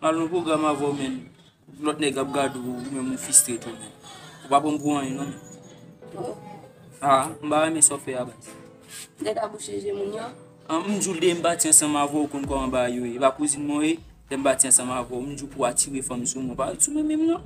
Mal nou program avèw menn lòt nèg ap gad ou menm ou fistre tou menn. Ou pa pran pou anyen non menn. Ha, m ba renmen sa w fè a baz. Nèg a bouche je moun yo. An m jou lè m pati ansanm avè w konn kòman bagay yo ye. E pa kouzin mwen w ye, lè m pati ansanm avè w m jou pou atire fanm sou mwen. Ou pa sou mwen menm non.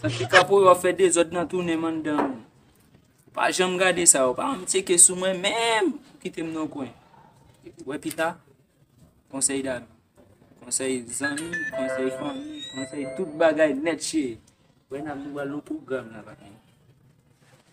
Santi kaporal ap fè dezòd nan tounen m anndan an. Pa janm gade sa yo, pa janm tyeke sou mwen menm pou kite m nan kwen. Wè pita, konsèy dam, konsèy zanmi, konsèy fanmi, konsèy tout bagay nèt chire. Wè nan m nou pral nan pwogram nan.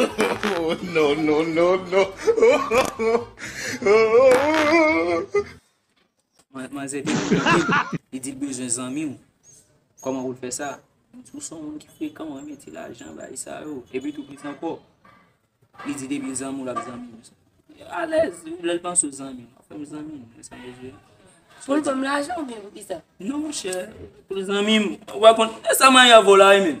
Oh non non non non Man- Manzè te kontakte l, li di l bezwen zanmi w. Koman pou l fè sa? Li di ou son moun ki frekan, ou renmen ti lajan, bay sa yo. Epi tou plis ankò, li di depi l zanmi w l ap zanmi w. Alèz, lè l panse w zanmi l, fè m zanmi m, wè sa m bezwen. Pou l banm lajan oubyen pou kisa? Non monchè, pou l zanmi m. Ou pa konn, e sa Maya vo la e menm?